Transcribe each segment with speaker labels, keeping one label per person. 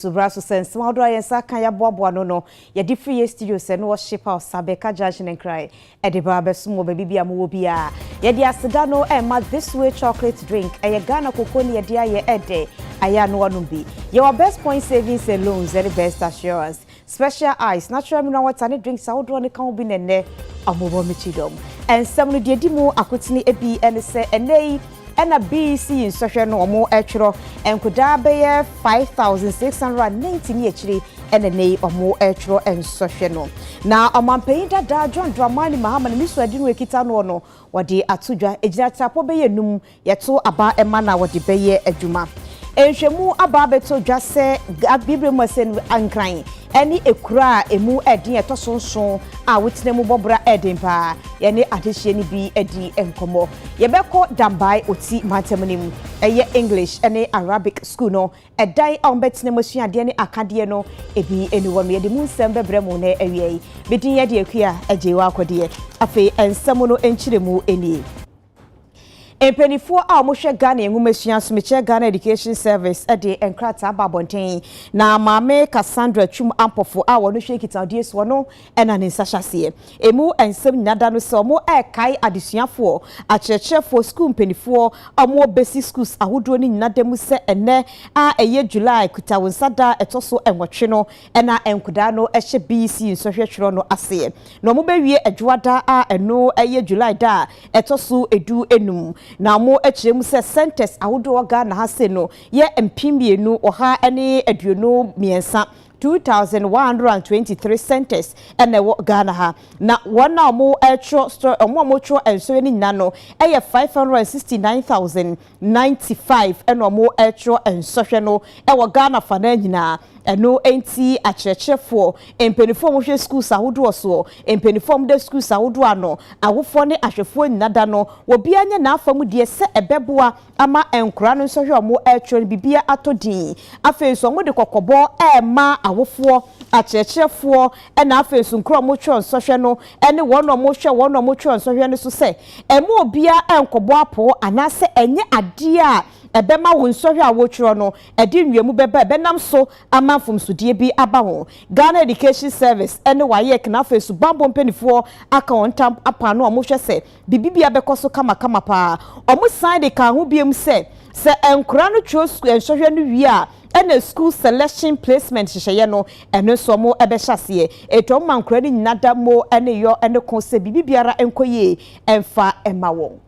Speaker 1: So bra so sɛ nsɛm ahodoɔ a yɛn nsa aka yɛaboaboa ano no yɛde firi yɛn studio sɛ no worship house Abeka junction nkran ɛde ba bɛsom wɔ baabi bia mowɔ biara yɛde aseda no ɛma this way chocolate drink ɛyɛ Ghana koko ne yɛde ayɛ ɛdɛ ayɛ ano anom bi yɛwɔ best point savings and loans ɛne best assurance special ice natural mineral water ne drinks ahodoɔ no ka ho bi na ɛnɛ ɔmowɔ me kyidɔm ɛnsɛm no deɛ di mu akotene bi ɛne sɛ ɛnɛ yi Ɛna bii si yi nsɔhwɛ no ɔmo ɛtwerɔ nkodaa bɛyɛ 5690 ne akyiri ɛna ɛnɛ yi ɔmo ɛtwerɔ nsɔhwɛ no. Na ɔmanpanyin dadaa John Dramani Mahama ne ne suadi no ɛkita noɔ no wɔde ato dwa ɛgyina tirapɔ bɛyɛ num yɛto aba ɛma na wɔde bɛyɛ adwuma. Nhwɛmu aba abɛtɔ dwa sɛ Abibire mu asɛnnu Nkran. ɛne akura a emu yɛ den a ɛtɔ so nson a wotena mu bɔ bra yɛ den paa. Yɛne adehyeɛ no bi di nkɔmmɔ. Yɛbɛkɔ Dambae Oti mantam no mu. Ɛyɛ English ne Arabic sukuu no dan a wɔbɛtena mu asua adeɛ ne akadeɛ no bi ne hɔ no. Yɛde mu nsɛm bɛbrɛ mo nnɛ awia yi. Me din yɛ Adeakua Agyei Woakɔdeɛ. Afei nsɛm no nkyerɛmu nie. Mpaninfoɔ a wɔn hwɛ Ghana Nwomasua Somekyɛ Ghana Education Service ɛde nkrataa aba abɔnten na Maame Cassandra Twum Ampofo a wɔn hwɛ nkitahodie soɔ no ɛna ne nsa hyɛ aseɛ. Emu nsɛm nyina da no sɛ wɔn ɛɛkae adesuafoɔ, akyerɛkyerɛfoɔ, sukuu mpaninfoɔ a wɔn bɛsi sukuus ahodoɔ no nyina da mu sɛ ɛnɛ a ɛyɛ July Kuta Wo Nsa da a ɛtɔ so nwɔtwe no Ɛna nkodaa no hyɛ BC nsɔhwɛ twerɛ no aseɛ na ɔmo bɛ wie Adwoa da a ɛno yɛ July da a ɛtɔ so du enum. Na ɔmo kyerɛ mu sɛ centres ahodoɔ Ghana ha se no yɛ mpem mmienu ɔha ne aduonu mmiɛnsa, 2,123 centres na ɛwɔ Ghana ha. Na wɔn a ɔmo twerɛ ɔmo a ɔmo twerɛ nsɔhwɛ no nyinaa no yɛ 569,000. ninety five na wɔretwerɛ nsɔhwɛ no wɔ Ghana fanaa nyinaa. Ɛno nti akyerɛkyerɛfoɔ, mpaninfoɔ a wɔhwɛ sukuus ahodoɔ soɔ, mpaninfoɔ a wɔda sukuus ahodoɔ ano, awofoɔ ne ahwɛfoɔ nyina da no, obiara nyɛ n'afa mu deɛ sɛ ɛbɛboa ama nkwadaa no nsɔhwɛ a wɔretwerɛ no biribiara atɔ din. Afei nso wɔde kɔkɔbɔ rema awofoɔ, akyerɛkyerɛfoɔ na afei nso nkuro a wɔtwerɛ nsɔhwɛ no ne wɔn a wɔhwɛ wɔn a wɔtwerɛ nsɔhwɛ no so sɛ, Ɛmma obiara nnkɔbɔ apoo anaasɛ ɛnyɛ adeɛ a ɛbɛma wo nsɔhwɛ a wotwerɛ no ɛde nwiamu bɛba a ɛbɛnam so ama mfomsodeɛ bi aba ho. Ghana Education Service ɛne WAEC na afei subammɔ mpaninfoɔ aka wɔn ntam apam na wɔn hwɛ sɛ biribibiara bɛkɔ so kamakama paa. Wɔn san de kaa ho biom sɛ, sɛ nkwadaa no twerɛ sukuu nsɔhwɛ no wie a, Ɛna sukuu sɛlɛhyen plasement nhyehyɛeɛ no, ɛno nso wɔbɛhyɛ aseɛ. Enti wɔma nkwadaa no nyina da mo ne yɔ ne ko sɛ biribi biara nkɔ yie mfa mma wɔn.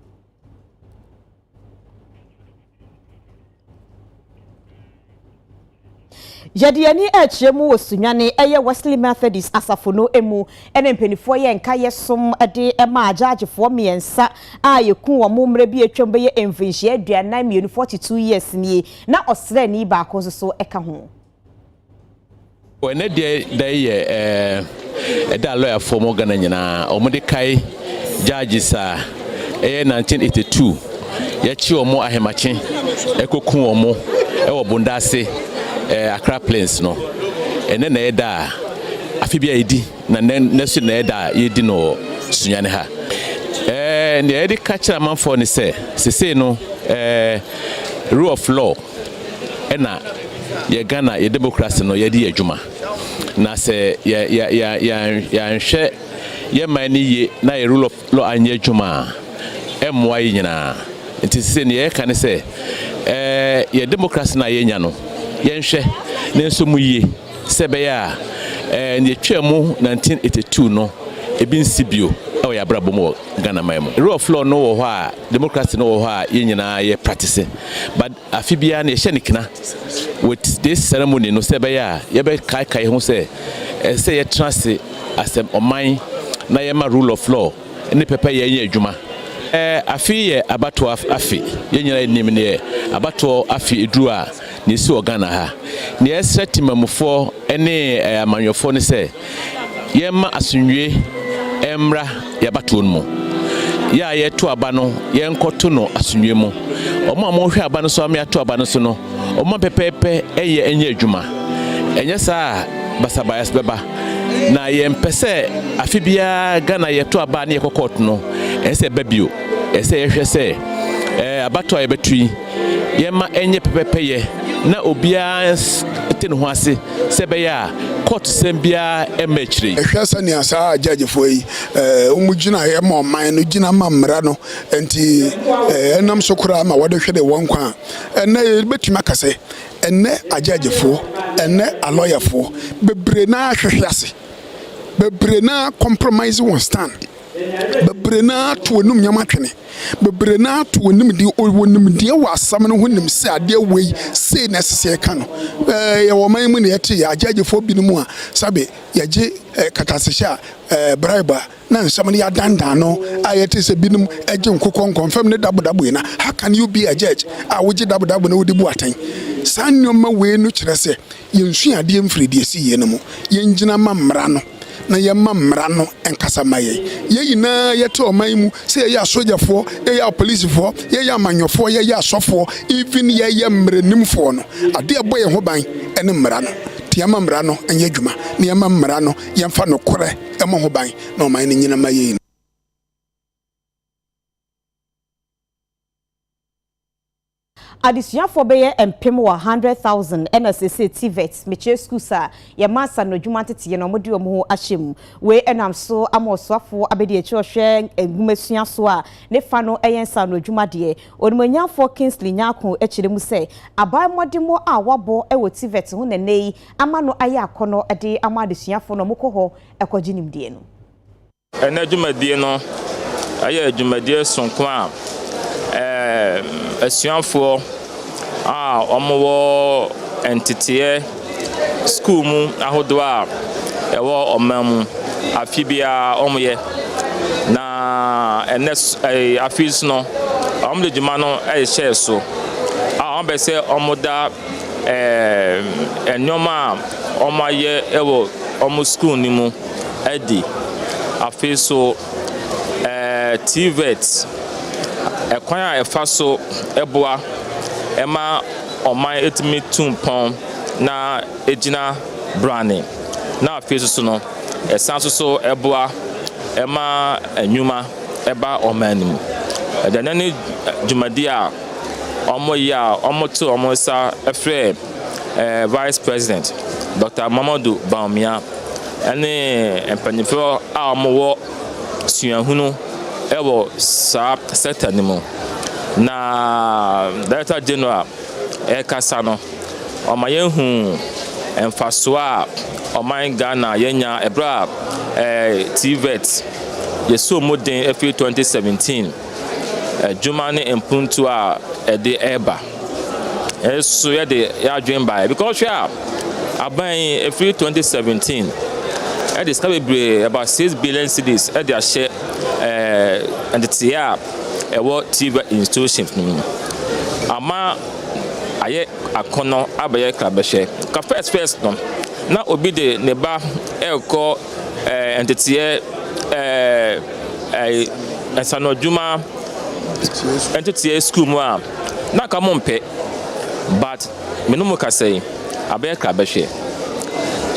Speaker 1: Yɛde yɛn ani rekyerɛ mu wɔ Sunyani, ɛyɛ Wesley Methodist asafo no mu. Ɛna mpanimfoɔ yɛ nkaeɛ som de maa agyaagyefoɔ mmiɛnsa a yɛkuu wɔn mmerɛ bi a atwam bɛyɛ mfirinhyia aduanan mmienu, forty two years, nie. Na ɔsraani baako nso so ka ho. Wɔ ɛnɛ deɛ da yi yɛ ɛda a lɔyafoɔ wɔ Ghana nyinaa wɔn de kae judges a ɛyɛ 1982 yɛkye wɔn ahemakye ɛkɔku wɔn ɛwɔ Bondase Accra Plains no. Ɛnɛ na ɛyɛ da a afe bi a ɛdi. Na nnɛ, nnɛ nso na ɛyɛ da a yɛredi no wɔ Sunyani ha. Ɛɛ, nea yɛde ka kyerɛ amanfoɔ ne sɛ, sesei no, ɛɛ, rule of law na yɛ Ghana, yɛ demokrase no yɛde yɛ adwuma. Na sɛ yɛ, yɛ, yɛ, yɛ, yɛanhwɛ yɛ man no yie na yɛ rule of law anyɛ adwuma a, ɛmmoa yɛ nyinaa. Nti sesei nea yɛka ne sɛ, ɛɛ, yɛ demokrase no a yɛanya no, yɛnhwɛ ne nso mu yie. Sɛ ɛbɛyɛ a nea etwaa mu nineteen eighty two no ebi nsi bio wɔ yɛn abrabɔ mu wɔ Ghana man mu. Rule of law no wɔ hɔ a, democracy no wɔ hɔ a yɛn nyinaa yɛ practice but afe biara no yɛhyɛ no kina with this ceremony no sɛ ɛbɛyɛ a yɛbɛkaekae ho sɛ ɛsɛ sɛ yɛtena ase as ɔman na yɛma rule of law ne pɛpɛyɛ nyɛ adwuma. Afe yɛ abatoɔ afe, yɛn nyinaa nim deɛ abatoɔ afe duru a deɛ ɛsi wɔ Ghana ha. Deɛ yɛsrɛ temanmufoɔ ne amanyɔfoɔ ne sɛ yɛmma asomdwoeɛ mmra yɛn abatoɔ no mu. Yɛ a yɛreto aba no yɛnkɔto no asomdwoeɛ mu. Wɔn a wɔhwɛ aba no so ama yɛato aba no so no, wɔmma pɛpɛɛpɛ nyɛ adwuma. Ɛnyɛ saa a basabas bɛba. Na yɛmpɛ sɛ afe biara Ghana yɛto aba ne yɛkɔ court no, ɛsɛ sɛ ɛba bio. Ɛsɛ sɛ yɛhwɛ sɛ eh, abatoɔ a yɛbɛto yi, yɛma ɛnyɛ pɛpɛpɛyɛ na obiara nte ne
Speaker 2: ho ase sɛ ɛbɛyɛ a court sɛm biara mma akyire yi. Hwɛ sɛnea saa
Speaker 3: judgefoɔ yi eh, wɔn gyinaeɛ ma ɔman no, gyina ma mmara no nti eh, ɛnam so koraa ma wɔde hwere wɔn nkwa a, ɛnnɛ yɛbɛtumi aka sɛ Ɛnnɛ agyɛɛgyefoɔ, ɛnnɛ alɔyafoɔ, bebree no ara hwehwe ase. Bebree no ara compromise wɔn stand. Bebree no ara to wɔn anom nneɛma twene. Bebree no ara to wɔn anim de wɔn nimdeɛ wɔ asɛm no ho nim sɛ adeɛ wei sei na ɛsɛ sɛ yɛka no. Ɛɛ yɛwɔ ɔman mu na yɛte agyɛɛgyefoɔ binom a sɛbe yɛgye katasehyɛ a ɛɛ bribe a. Na nsɛm no yɛ adanndaano a ɛyɛ te sɛ binom gye nkokɔnkɔnfam ne dabodaboi na How can you be a judge? a wogye dabodaboi na wode bu atɛn. Saa nneɛma wei no kyerɛ sɛ yensua adeɛ mfiri deɛ ɛsii yei no mu. Yɛngyina mma mmara no na yɛmma mmara no nkasa mma yɛn. Yɛn nyinaa yɛte ɔman mu, sɛ yɛyɛ asogyafoɔ, yɛyɛ apolisifoɔ, yɛyɛ amanyɔfoɔ, yɛyɛ asɔfoɔ, even yɛyɛ mmaranimfoɔ no, adeɛ a ɛbɔ yɛn ho ban ne mmara no. Nti yɛmma mmara no nyɛ adwuma na yɛmma mmara no yɛmfa nokorɛ. Ɛmmɔ ho ban na ɔman no nnyina mma yei no.
Speaker 1: Adesuafoɔ bɛyɛ mpem wɔ hundred thousand ɛna seesei TVET mekyerɛ schools a yɛma asano adwuma nteteyɛ no wɔde wɔn ho ahyɛ mu. Wei ɛnam so ama ɔsoafoɔ abɛdi akyire ɔhwɛ nwoma sua so a ne fa no ɛyɛ nsano adwuma deɛ. Onimuonyamfoɔ Kingsley Nyarko kyerɛ mu sɛ aban mmɔdemmɔ a wɔabɔ wɔ TVET ho na ɛnnɛ yi ama no ayɛ akɔnnɔ de ama adesuafo na wɔkɔ hɔ kɔgye nimdeɛ no. Ɛnnɛ
Speaker 4: dwumadie no yɛ dwumadie sonko a asuafoɔ a wɔwɔ nteteɛ sukuu mu ahodoɔ a ɛwɔ ɔman mu afe biara wɔyɛ, na ɛnnɛ afe yi nso no wɔde dwuma no rehyɛ so a wɔbɛ sɛ wɔda nnoɔma a wɔayɛ wɔ wɔn sukuu no mu adi. Afei nso, TVET, kwan a ɛfa so boa ma ɔman tumi tu mpɔn na ɛgyina brane, na afei nso no, ɛsan nso so boa ma nnwuma ba ɔman no mu. Ɛda no adi dwumadie a wɔyɛ a wɔto wɔn nsa frɛ ɛɛ Vice President Dɔkta Mamadu Bawumia ne mpanyinfoɔ a wɔwɔ suahunu ɛwɔ saa sector no mu. Na Director General ɛkasa no, ɔma yɛn hu mfasoɔ a ɔman Ghana yɛnya ɛberɛ a ɛɛ TVET yɛsoo mu den ɛfiri 2017. adwuma ne mpontu a ɛde ba. Ɛso yɛde yɛadwen baeɛ because wohwɛ a aban yi ɛfiri 2017 ɛde sika bebree about 6 billion cedis ɛde ahyɛ ɛɛ nteteeɛ a ɛwɔ TV institutions no mu ama ayɛ akɔnɔ abɛyɛ krabɛhwɛ ka first first no na obi de ne ba ɛrekɔ eh, nteteɛ eh, eh, nsanodwuma nteteɛ sukuu mu a na nka mo mpɛ but me no mu kasa yi abɛyɛ kra bɛhwɛ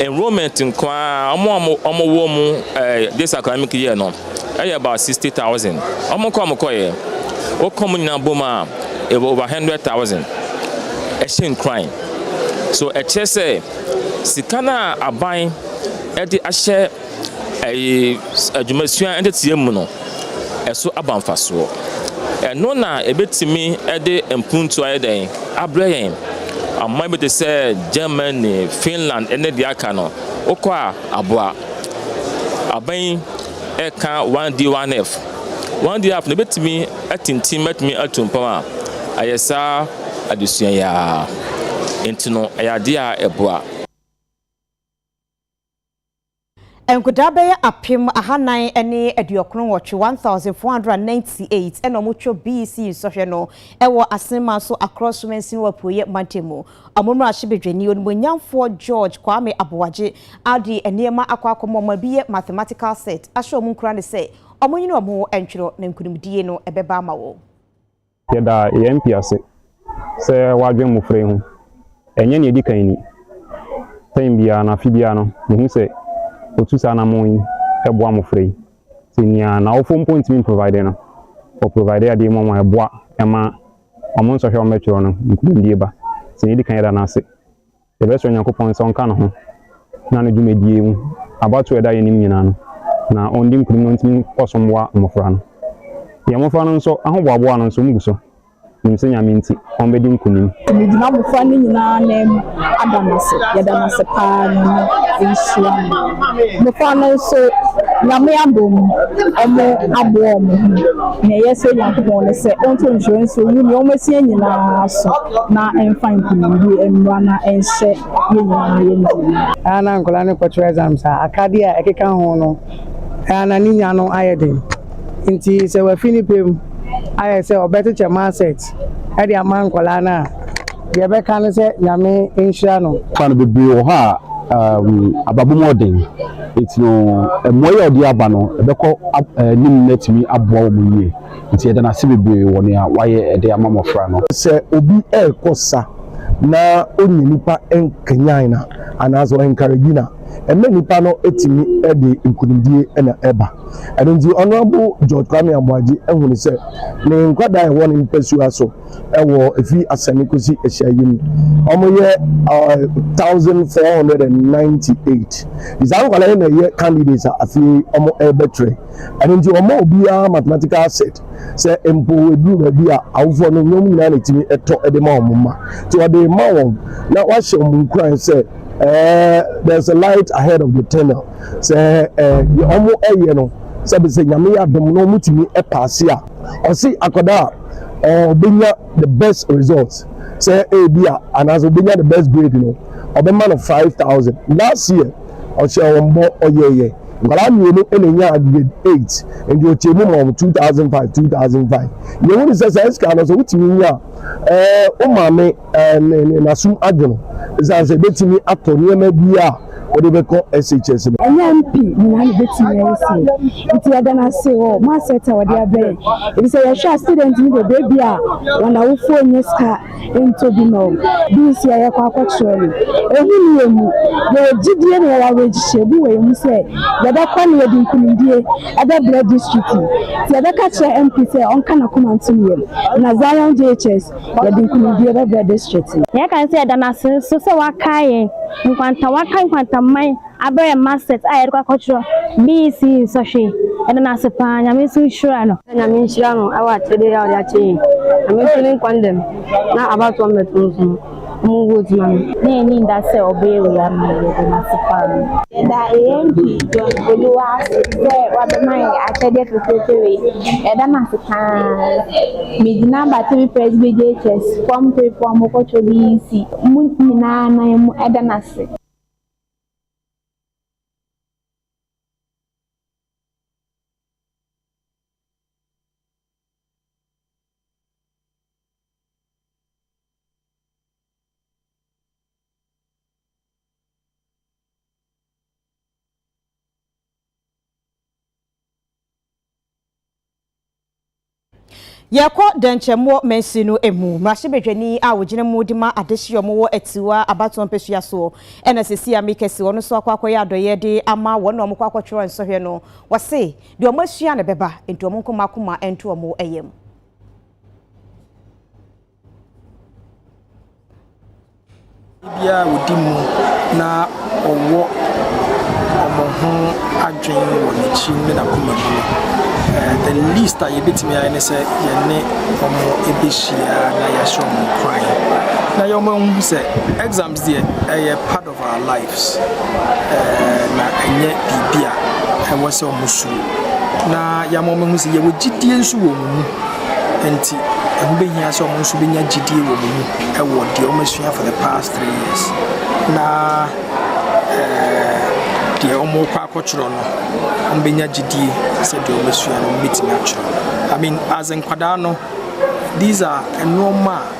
Speaker 4: enrollment nko ara ɔmo a ɔmo wɔ mu eh, this academic yɛ no ɛyɛ about sixty thousand ɔmo nkɔ ɔmo kɔyɛ wokɔ mu nyinaa bom a ɛwɔ over hundred thousand ɛhyɛ nkuran so ɛkyerɛ sɛ sika no a aban de ahyɛ adwumasua nteteɛ mu no, ɛso aba mfasoɔ. Ɛno na ɛbɛtumi de mpuntuo ayɛ dɛn abrɛ yɛn. Aman bi te sɛ Germany, Finland ne deɛ aka no, wokɔ a aboa. Aban yi ɛka one D one F. One D one F no ɛbɛtumi atintim atumi atu mpɔn a, ayɛ saa adesua yi ara. Nti no ɛyɛ adeɛ a ɛboa.
Speaker 1: Nkwadaa bɛyɛ apem ahanan ne aduokron nwɔtwe, 1,498, na wɔtwa BEC nsɔhwɛ no wɔ Asen Manso Across Sumansin wɔ Apueeɛ Mantam mu. Wɔn mmarahyɛbadwani, Onimuonyanfoɔ George Kwame Aboagye de nneɛma akɔ akɔma wɔn a ɛbi yɛ mathematical set ahyɛ wɔn nkuran sɛ wɔnyini wɔn ho ntwerɛ na nkunimdie no bɛba ama wɔn. Yɛda
Speaker 5: yɛn MP ase sɛ wadwen mmofra yi ho. Ɛnyɛ nea edi kan ni. Term biara no, afe biara no, yehu sɛ otu saa anammɔn yi boa mmofra yi. Nti nea n'awofo mpo ntumi mprovide no, ɔprovide adeɛ ma wɔn a ɛboa ma wɔn nsɔhwɛ a wɔbɛtwerɛ no, nkunimdie ba. Nti nea edi kan yɛda no ase. Yɛbɛsrɛ Onyankopɔn sɛ ɔnka ne ho na ne dwumadie mu abatoɔ a ɛda yɛn anim nyinaa no, na ɔndi nkunim na ɔntumi nkɔ so mmoa mmɔfra no. Yɛn mmɔfra no nso, ahoboaboa no nso, wɔgu so. Menim sɛ Nyame nti, wɔbɛdi nkunim. Megyina mmɔfra no
Speaker 6: nyinaa nan mu ada no ase. Yɛda no ase pa ara, Nyame nhyira mo. Mmɔfra no nso, Nyame abɔ mu, wɔaboa wɔn ho. Nea ɛyɛ sɛ Nyankopɔn ne sɛ ɔnto nhyira nsi owu ne wɔn asia nyinaa so na ɛmfa nkonimdie mmra na ɛnhyɛ yɛn nyinaa yɛn den. Ɛyɛ a na nkwadaa no
Speaker 7: kɔto exams a akadeɛ a ɛkeka ho no, ɛyɛ a na ne nya no ayɛ den. Nti sɛ wafi ne pɛ mu ayɛ sɛ ɔbɛkyekyɛ marset de ama nkwadaa no a, deɛ ɛbɛka ne sɛ Nyame nhyira no. Fa no bebree wɔ hɔ a
Speaker 8: ababɔ mu ɔden Enti no, mmuae a ɔde aba no, ɛbɛkɔ anim na atumi aboa wɔn yiye. Enti yɛda no ase bebree wɔ nea wayɛ de ama mmofra no. Sɛ obi rekɔ
Speaker 9: sa na onnya nnipa nkanyan no anaasɛ ɔɛnkaregi no a, ɛma nnipa no tumi de nkonimdie na ɛba. Ɛno nti Honourable George Kwame Amoagye hunu sɛ ne nkwadaa a ɛwɔ ne mpasua so wɔ efi asɛnni kosi ahyiayi mu. Wɔyɛ uh, thousand four hundred and ninety eight. Saa nkwadaa yi na ɛyɛ candidates a afei wɔn ɛrebɛtwerɛ. Ɛno nti wɔn a obiara mathematical set sɛ mpo eduru baabi a awofoɔ no wɔn nyinaa na etimi ɛtɔ ɛde ma wɔn mma. Nti wɔde ma wɔn na wahyɛ wɔn nkuran sɛ ɛɛ there is a light ahead of the tunnel sɛ ɛɛ deɛ wɔn ɛyɛ no sɛbi sɛ nyame yɛ adom na wɔn tumi ɛpaase a ɔsi akwadaa. ɔbɛnya the best result sɛ ebia anaasɛ ɔbɛnya the best grade no ɔbɛma no five thousand last year ɔhyɛ wɔn bɔ ɔyɛɛyɛ nkwadaa mmienu na enya grade eight nti ɔkyɛ mu ma wɔn two thousand five two thousand five yɛhu ne sɛ saa sika no sɛ wotumi nya ɛɛ wo maame. ne ne n'asom adwo no ɛsiane sɛ ɛbɛtumi atɔ nneɛma bi a wɔde bɛkɔ SHS no. Ɛyɛ MP nyinaa na
Speaker 6: ɛbɛtumi ayɛ sei nti yɛda no ase wɔ mo asɛt a wɔde abɛn ɛbi sɛ yɛhwɛ a student no deɛ baabi a wɔn awofoɔ nyɛ sika ntɔ bi ma wɔn bi nsi a yɛkɔ akɔkyerɛ no ɛhu ne yɛ mu yɛwɔ gyidie na yɛwɔ awerɛgyhyɛ bi wɔ yɛ mu sɛ yɛbɛkɔ na yɛde nkunimdie ɛbɛbrɛ district nti yɛbɛka kyerɛ MP sɛ ɔnka n'akoma ntom yɛm na Zion JHS Yɛde nkunimdie bɛbrɛ district no. Na yɛka sɛ yɛda no ase nso sɛ wakae yɛn nkwanta, wakae nkwantaman abrɛ yɛn masters a yɛde kɔ akɔtwerɛ BEC nsɔhwɛ yi. Yɛda no ase paa. Nyame nso nhyira no. Na Nyame nhyira no wɔ akyɛdeɛ a ɔde akyɛ yɛn. Nyame nso ne nkwa ndam na abatoɔ mmɛto nso. Mo wo di mu na yɛn ni da sɛ ɔbɛ yɛ wei ama yɛn yɛda no ase paa. Yɛda AMP John Oluwa ase sɛ wabɛma yɛn akyɛdeɛ fɛfɛɛfɛ wei. Yɛda no ase paa. Megyina Battery Press BJHS Form 3 foɔ a mokɔ twɛ BEC. Mo nyinaa nan mu ɛda no ase.
Speaker 1: Yɛkɔ Dɛnkyɛmmoɔ Mansin no mu, Mmarahyɛbadwani a ɔgyina mu de ma adehyeɛ a wɔwɔ Atiwa abatoɔ mpasua soɔ ɛna Sesi Amekɛse, ɔno nso akɔ akɔyɛ adɔyɛde ama wɔn a wɔkɔ akɔtwerɛ nsɔhwɛ no, ɔse Deɛ wɔn asua na ɛbɛba, enti wɔn nko mma koma nto wɔn yam.
Speaker 10: Biara a wɔdi mu na wɔwɔ wɔn ho adwene wɔ n'akyi ne n'akoma mu no, the least a yɛbɛtumi ayɛ ne sɛ yɛne wɔn ɛbɛhyia na yɛahyɛ wɔn kwan na yɛn wɔn ahu sɛ exams deɛ ɛyɛ part of. of our lives na ɛnyɛ biribi a ɛwɔ sɛ wɔn suro na yɛama wɔn ahu sɛ yɛwɔ gyidie nso wɔ wɔn mu nti ɛho bɛhia sɛ wɔn nso bɛnya gyidie wɔ wɔn mu ɛwɔ deɛ wɔn asua for the past three years na deɛ wɔn kɔ akɔtwerɛ no wɔn bɛnya gyidie sɛ deɛ wɔn asua no wɔn bɛtumi atwerɛ I mean as nkwadaa no these are nneɛma a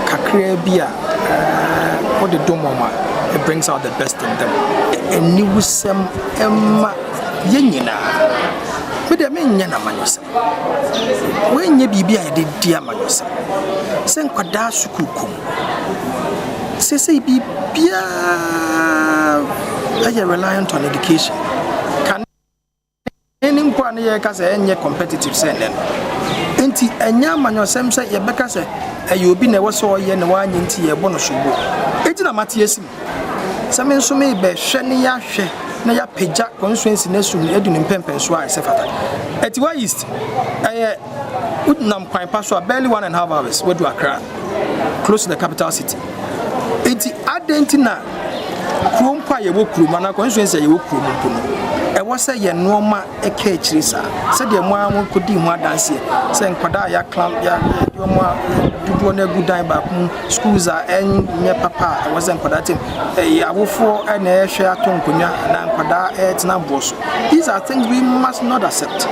Speaker 10: kakraa bi a wode dom wɔn a, it brings out the best in them. Aniwusɛm mma yɛn nyinaa. Me deɛ menyɛ no amanyɔsɛm. Wei nyɛ biribi a yɛde di amanyɔsɛm. Sɛ nkwadaa sukuu kɔ mu. Seesei biribiara yɛ reliant on education. Kane. Ɛnnɛ no mpo a na yɛka sɛ ɛnyɛ competitive sɛ ɛnnɛ no. Enti ɛnyɛ amanyɔsɛm sɛ yɛbɛka sɛ ɛyɛ obi na ɛwɔ sɛ ɔyɛ na wanyɛ nti yɛrebɔ no sobo. Enti na mate asi me sɛ me nso merebɛhwɛ na yɛahwɛ na yɛapagya constituency no asu adu ne mpɛnpɛnsoɔ a ɛsɛ fata. Atiwa East, ɛyɛ. Wonam kwan pa so a, barely one and half hours woadu Accra, close to the capital city. Enti adɛn nti na kuro mpo a yɛwɔ kurom anaa constituency a yɛwɔ kurom mpo no, ɛwɔ sɛ yɛn nneɛma ɛka akyire saa? Sɛdeɛ mo ara mokɔdii ho adanseɛ sɛ nkwadaa a yɛakla yɛde wɔn a dodoɔ no agu dan baako mu, schools a ɛnyɛ papa a ɛwɔ sɛ nkwadaa tem, ɛyɛ awofoɔ na ɛhwɛ ato nkonnwa anaa nkwadaa ɛtena boɔ so. These are things we must not accept.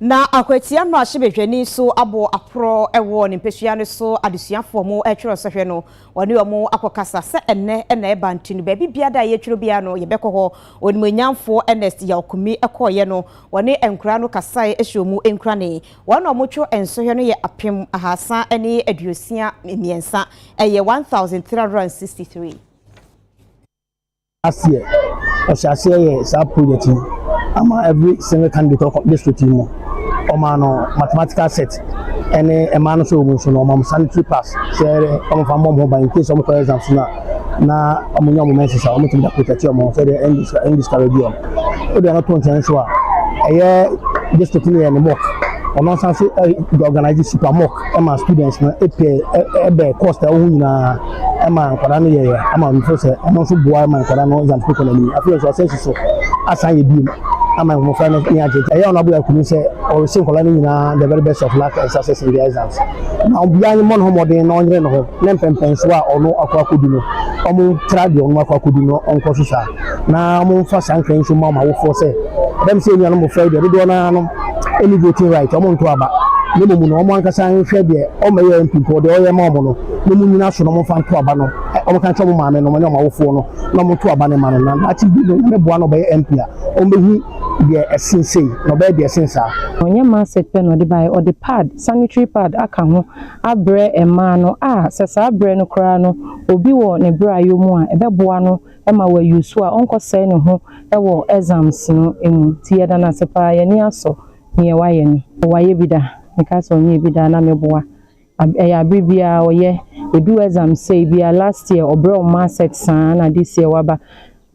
Speaker 1: Na Akwati mmarahyɛbadwani nso abɔ aporɔ wɔ ne mpasua no so adesuafoɔ mo ɛtwerɛ sɔhwɛ no wɔne wɔn akɔkasa sɛ ɛnɛ na ɛba nti no baabi biara da a yɛtwerɛ biara no yɛbɛkɔ hɔ onimuonyamfoɔ Ernest Yawkumi kɔeɛ no wɔne nkoraa no kasae hyɛ wɔn mu nkurane wɔn a wɔtwerɛ nsɔhwɛ no yɛ apem ahasa ne aduosia mmiɛnsa ɛyɛ 1363
Speaker 9: Last year ɔhyɛ aseɛ yɛ saa project yi ama every single candidate ɔkɔ district yi mu. Ɔmaa no mathematical set ɛne ɛmaa no sɛ ɔmu nso no ɔma ɔmo sanitary pass sɛ ɔmo fa mmɔ ɔmo ho ban in case ɔmo kɔ exams no a na ɔmo nya ɔmo menses a ɔmo tumi da protect ɔmo ho sɛ deɛ ɛn discourage ɔmo. Wode ɛno to nkyɛn nso a ɛyɛ district no yɛ ne mock ɔno nso ase organize super mock. ɛma students no pɛ ɛbɛ cost a wɔn nyinaa ɛma nkwadaa no yɛyɛ ama wɔn fo sɛ wɔn nso boa ma nkwadaa no exam kɔ na mu afei nso ɔsɛ soso asan yɛ bio ama mmɔfra no nyɛ agye ɛyɛ ɔno abula kunu sɛ ɔresi nkwadaa no nyinaa the very best of luck and success in the exams na obiara ne mmɔ ne ho mmɔden na ɔnyere ne ho ne mpɛmpɛnsoɔ a ɔno akɔ akɔdu no wɔn tra deɛ wɔn akɔ akɔdu no ɔnkɔ so saa. na momfa saa nkra yi nso mma mo awofoɔ sɛ, Ɛbam sɛ yɛn nuanom mmofra yi deɛ dodoɔ no ara no nni voting right, wɔnntoo aba, na mmom no wɔn ankasa nhwɛ deɛ wɔmmɛyɛ MP mpo, deɛ wɔyɛ mma wɔn no, na monnyina so na momfa nto aba no, wɔnka nkyerɛ wɔn maamenom ne wɔn awofoɔ no na wɔnto aba no mma no, na daakye bi no Nyame boa na ɔbɛyɛ MP a, wɔbɛhu deɛ ɛsen sei, na ɔbɛyɛ deɛ ɛsen saa. Ɔnyɛ Marset pɛ na
Speaker 11: ɔde baeɛ, ɔde pad, sanitary pad aka ho abrɛ mmaa no a sɛ saa berɛ no koraa no obi wɔ ne brayɔ mu a, ɛbɛboa no ma wayu so a ɔnkɔsɛe ne ho wɔ exams no mu nti yɛda no ase paa yɛn ani asɔ neɛ wayɛ no. Wayɛ bi da? Mekaa sɛ ɔnyɛɛ bi da a na meboa ɛyɛ abere biara ɔyɛ ɛdu exam sei bi a last year ɔbrɛ wɔn mark set saa na this year waba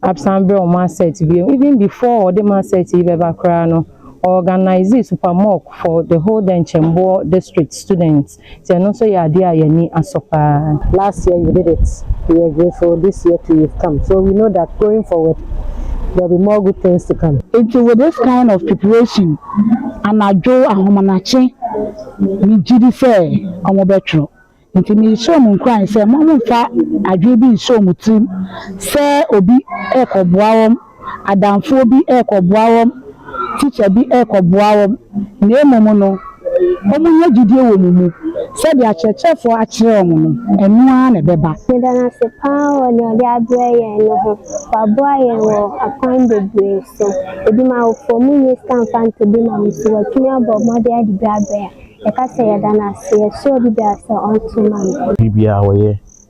Speaker 11: absan brɛ wɔn mark set biom even before ɔde mark set yi bɛba koraa no ɔorganise super mock for the whole Dɛnkyɛmboɔ district students. nti ɛno nso yɛ adeɛ a yɛn ani asɔ pa ara. Last year you did
Speaker 12: it, we are grateful, this year too you've come, so we know that going forward there will be more good things to come. Nti with this kind of
Speaker 6: preparation, anadwo, ahomanakye, me gye di sɛ wɔn bɛtwerɛ. Nti me hyɛ wɔn nkuran sɛ wɔn mfa adwene bi nhyɛ wɔn tirim sɛ obi rekɔboa wɔn. adamfoɔ bi rekɔboa wɔn, tikya bi rekɔboa wɔn, na mmom no, wɔnya gyidie wɔ mo mu sɛ deɛ akyerɛkyerɛfoɔ akyerɛ wɔn no, ɛno ara na ɛbɛba. Meda no ase paa
Speaker 13: wɔ deɛ ɔde abrɛ yɛn no ho. Waboa yɛn wɔ akwan bebree so. Ebi ma awofo mu nyi sika mfa ntɔ bi ma me nti watumi abɔ mmɔden ade bi abrɛ a, yɛka sɛ yɛda no ase. Yɛsrɛ obi biara sɛ ɔnto ma me. Biribiara ɔyɛ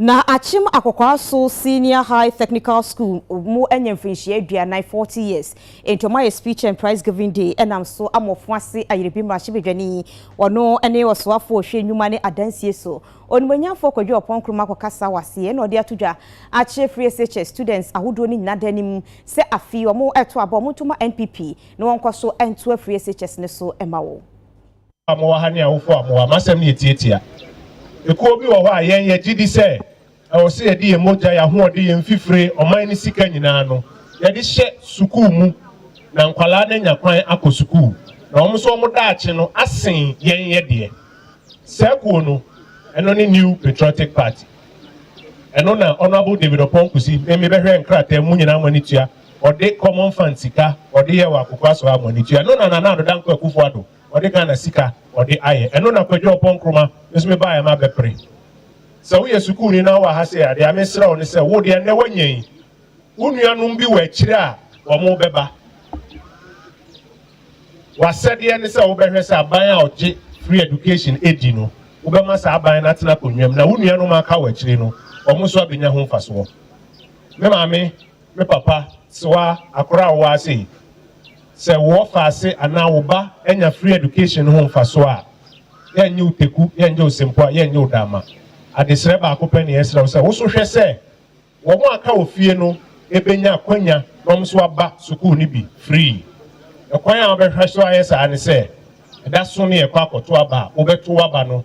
Speaker 1: Na Akyem Akokoaso Senior High Technical School mo anya mfirinhyia aduanan, forty years, nti ɔmo ayɛ speech and prize giving day ɛnam so ama ɔfo ase Ayerbi mmarahyɛbadwani, ɔno ɛne ɔsoafoɔ ɔhwɛ nnwuma ne adansie so, Onimuonyanfoɔ Kwadwo Ɔpɔn Nkrumah akɔkasa wɔ aseɛ ɛna ɔde ato dwa akyerɛ firi SHS students ahodoɔ no nyina dan no mu sɛ afei ɔmo ɛto aba ɔmo nto ma NPP na wɔnkɔ so ntoa firi SHS no so ɛma wɔ. a mowɔ ha
Speaker 14: ne awofo a mowɔ ha, m'asɛm no yɛ tiatia. Ekuo bi wɔ hɔ a yɛn yɛgye di sɛ ɛwɔ sɛ yɛde yɛn mogya, yɛn ahoɔden, yɛn mfifire, ɔman no sika nyinaa no yɛde hyɛ sukuu mu na nkwadaa no anya kwan akɔ sukuu na wɔn nso wɔn daakye no asen yɛn yɛ deɛ. Saa kuo no, ɛno ne New Patriotic Party. Ɛno na Honourable David Opɔn Kusi, me mebɛhwɛ nkrataa mu nyinaa mo ani tua. Ɔde common fund sika ɔde yɛɛ wɔ Akokwa so ha mɔni tua. Ɛno na Nana Addo Dankwa Akufo Addo ɔde Ghana sika ɔde ayɛ. Ɛno na Kwadwo Ɔpɔn Nkrumah nso me baeɛ ma bɛpere. Sɛ woyɛ sukuuni na wowɔ ha sei a, deɛ mesrɛ wo ne sɛ wo deɛ nnɛ woanya yi, wo nuanom bi wɔ akyire a wɔbɛba. W'asɛdeɛ ne sɛ wobɛhwɛ sɛ aban a ɔgye free education di no, wobɛma saa aban no atena akonnwa mu na wo nuanom a aka wɔ akyire no, wɔn nso abɛnya ho mfasoɔ. Me maame Me papa, se wa akora a woa sei, sɛ woɔ faase anaa wo ba anya free education ho mfasoɔ a, yɛ nye wo teku, yɛ nye wo sempoa, yɛ nye wo daama. Adesrɛ baako pɛ ne yɛsrɛ wo sɛ wo so hwɛ sɛ wɔn a ka wɔ fie no benya akwanya na wɔn nso aba sukuu no bi free. Ɛkwan a wobɛhwɛ so ayɛ saa ne sɛ, ɛda so ne yɛkɔ akɔto aba a, wobɛto w'aba no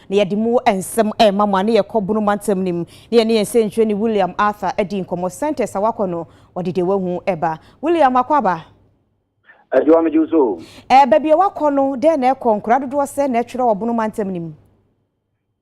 Speaker 1: na yɛde mu nsɛm rema mo a ne yɛkɔ Bono mantam no mu na yɛne yɛn sɛnkyerɛni William Arthur adi nkɔmmɔ. Sentence a wakɔ no, ɔde deɛ wahu ba. William, wakɔ aba? Adwoa,
Speaker 15: megye wo so o. Ɛɛ, baabi a wakɔ
Speaker 1: no, dɛn na ɛkɔ? Nkuraa dodoɔ sɛn na ɛtwerɛ wɔ Bono mantam no mu?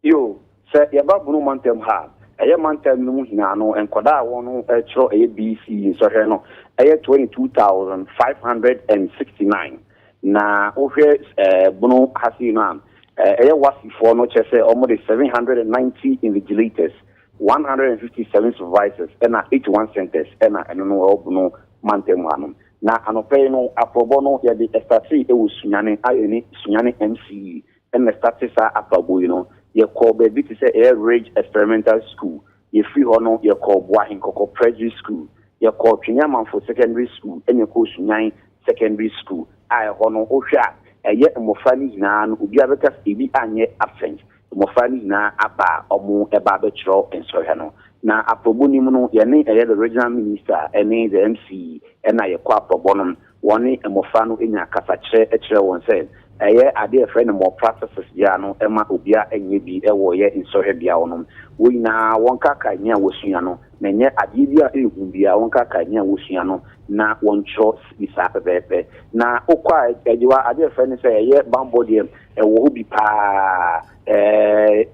Speaker 1: Yo,
Speaker 15: sɛ yɛba Bono mantam ha a, ɛyɛ mantam no mu hene ano nkɔdaa a wɔtwerɛ ɛyɛ BC nsɔhwɛ no, ɛyɛ 22,569. Na wohwɛ eh, bono ha sei no a, eh, ɛyɛ Wasifoɔ no kyɛ sɛ wɔn de 790 invigilators, 157 supervisors ɛna 81 centers ɛna ɛno no ɛwɔ bono mantam ha nom. Na anɔpa yi no aprɔbɔ no yɛde ɛstatee ɛwɔ Sunyane a ɛne Sunyane MCE ɛna ɛstatee saa aprɔbɔ yi no. Yɛkɔɔ baabi te sɛ ɛyɛ Ridge Experimental School Yɛfiri hɔ no, yɛkɔɔ Boa Henkɔkɔ Presby School, yɛkɔɔ Twene Amanfo Secondary School ɛna yɛkɔɔ Sunyan Secondary School a ɛhɔ no wohwɛ a ɛyɛ mmɔfra no nyinaa no obiara bɛka sɛ ebi anyɛ absent. Mmɔfra no nyinaa aba a wɔba abɛkyerɛ nsɔhwɛ no. Na aprɔbɔ no mu no yɛne ɛyɛ the Regional Minister ɛne the MC ɛna yɛkɔ aprɔbɔ no. wɔne mmofra no nya kasakyerɛ kyerɛ wɔn sɛ ɛyɛ ade a yɛfrɛ no more practices biara no mma obiara nyɛ bi wɔ yɛn nsrahwɛ beae hɔ no. Wɔn nyinaa wɔnkaakae nea wɔasua no, na ɛnyɛ adeɛ bi a ɛyɛ hu biara wɔnkaakae nea wɔasua no na wɔntwerɛ bi saa pɛpɛɛpɛ. Na wokɔ a, Agyewa, adeɛ a yɛfrɛ no sɛ ɛyɛ bammɔ deɛ, ɛwɔ hɔ bi pa ara.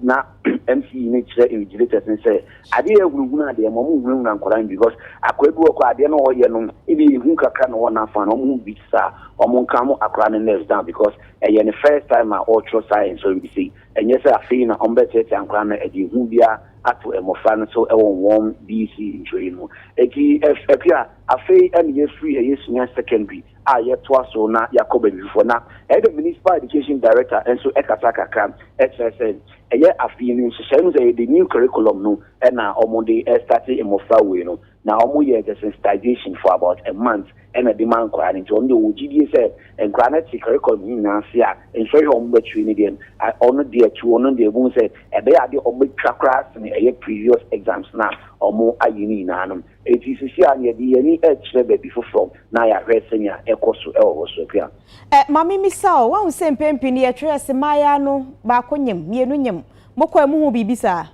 Speaker 15: na mc yi ne kyerɛ invigilators ne sɛ adeɛ yɛ hunahuna adeɛ ma ɔmo hunahuna nkwadaa no because akwadaa bi wɔ kɔ adeɛ no ɔyɛ no ebi yɛ hu kakra na wɔn afa na ɔmo ho bi saa ɔmo nka mo akwadaa no nerves down because ɛyɛ ne first time a ɔretwerɛ saa nsɔre bi sei ɛnyɛ sɛ afei na ɔmo bɛtiatia nkwadaa no ɛde hu biara ato mmɔfra no so ɛwɔ wɔn BC ntwerɛ yi no eti ɛpia afei ɛna yɛfiri ɛyɛ senior secondary a yɛtoa so na yɛakɔ baabi foforɔ. Na ɛyɛ dɛ Municipal Education Director nso kasa kakra kyerɛ sɛ ɛyɛ afe yi no nhyehyɛe no sɛ ɛyɛ the new curriculum no na wɔde restate mmɔfra wei no. Na wɔyɛɛ the sensitization for about a month na ɛde maa nkwadaa no. Nti wɔn deɛ wɔwɔ gyidie sɛ nkwadaa no te curriculum no nyinaa ase a, nhwɛhwɛ a wɔbɛkyerɛ no deɛ wɔn deɛ to wɔn deɛ ɛbɛhu sɛ ɛbɛyɛ adeɛ a wɔbɛtwa koraa sene ɛyɛ previous exams no a wɔayɛ no nyinaa no. Enti seesei ara yɛde yɛn ani rekyerɛ baabi foforo na yɛahwɛ sɛnea ɛkɔ so wɔ hɔ. So ɛpia? Ɛ, ma mimmisa
Speaker 1: o, woahu sɛ mpɛn pii no yɛtwerɛ se mmayaa no baako nyem, mmienu nyem. Mokɔe mohuu biribi saa?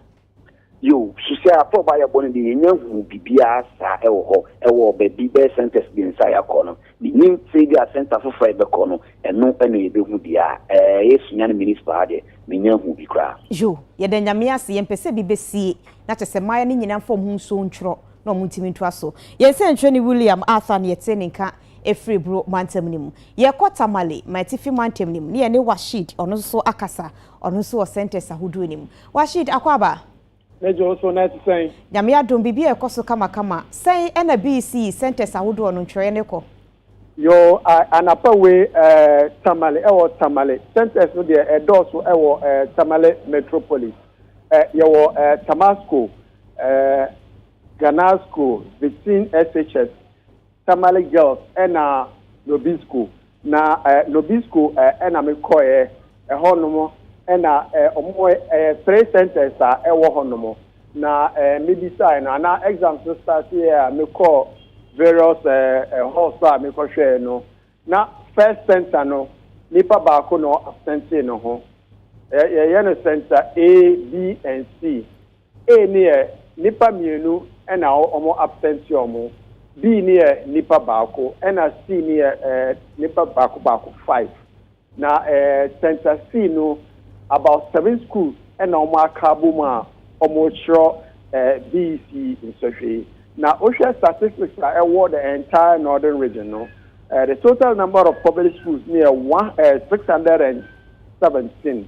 Speaker 1: Yiw,
Speaker 15: so sɛ afe a ɔbaeɛ bɔ no deɛ, yɛnnya nhuu biribiara saa wɔ hɔ wɔ baabi, bɛyɛ centres mmiɛnsa a yɛakɔ no. Minnim sɛbi a centre foforɔ a yɛbɛkɔ no ɛno na yɛbɛhu deɛ a ɛyɛ sua no municipal ha deɛ mennya nhuu bi koraa. Yo, yɛda Nyame
Speaker 1: ase, yɛmpɛ sɛ bi bɛsie, na kyɛ sɛ mmaeɛ no nyina mfa wɔn ho nsuo ntwerɔ na wɔn ntumi ntoa so. Yɛn sɛnkyerɛni William Arthur na yɛtee ne nka ɛfiri Buro mantam no mu. Yɛrekɔ Tamale, M'atifi mantam no mu, na yɛne Washeed, ɔno nso akasa, ɔno nso wɔ centres ahodoɔ no mu. Washeed, Akwaaba! Ne dwow so
Speaker 16: no te sɛn? Nyame adom, biribi a ɛkɔ
Speaker 1: so kamakama. Sɛn na BC sɛntɛs ahodoɔ no ntwerɛeɛ no kɔ? Yoo,
Speaker 16: anapa wei ɛɛ Tamale, ɛwɔ Tamale. Sɛntɛs no deɛ ɛdɔɔso ɛwɔ ɛɛ Tamale Metropolis. Ɛ, yɛwɔ ɛɛ Tamasco, ɛɛ Ganasco, Vitin SHS, Tamale Girls na Nobisco. Na Nobisco na me kɔɛ, ɛhɔ nom na ɔmo ɛyɛ three centers a ɛwɔ hɔ nom. Na me bisaɛ no ana exams no starteɛ a me kɔɔ various halls a me kɔ hwɛɛ no na first center no nipa baako na ɔ absentee no ho. Yɛ yɛ no center A, B and C. A ne yɛ nipa mmienu ɛna ɔmo absent ɔmo, B ne yɛ nipa baako ɛna C ne yɛ eh nipa baako baako, five, na eh center C no about seven schools ɛna ɔmo aka abom a ɔmo kyerɛ eh BEC nsɔhwɛ yi. Na wo hwɛ statistics a ɛwɔ the entire northern region no eh the total number of public schools ne yɛ one eh six hundred and seventeen.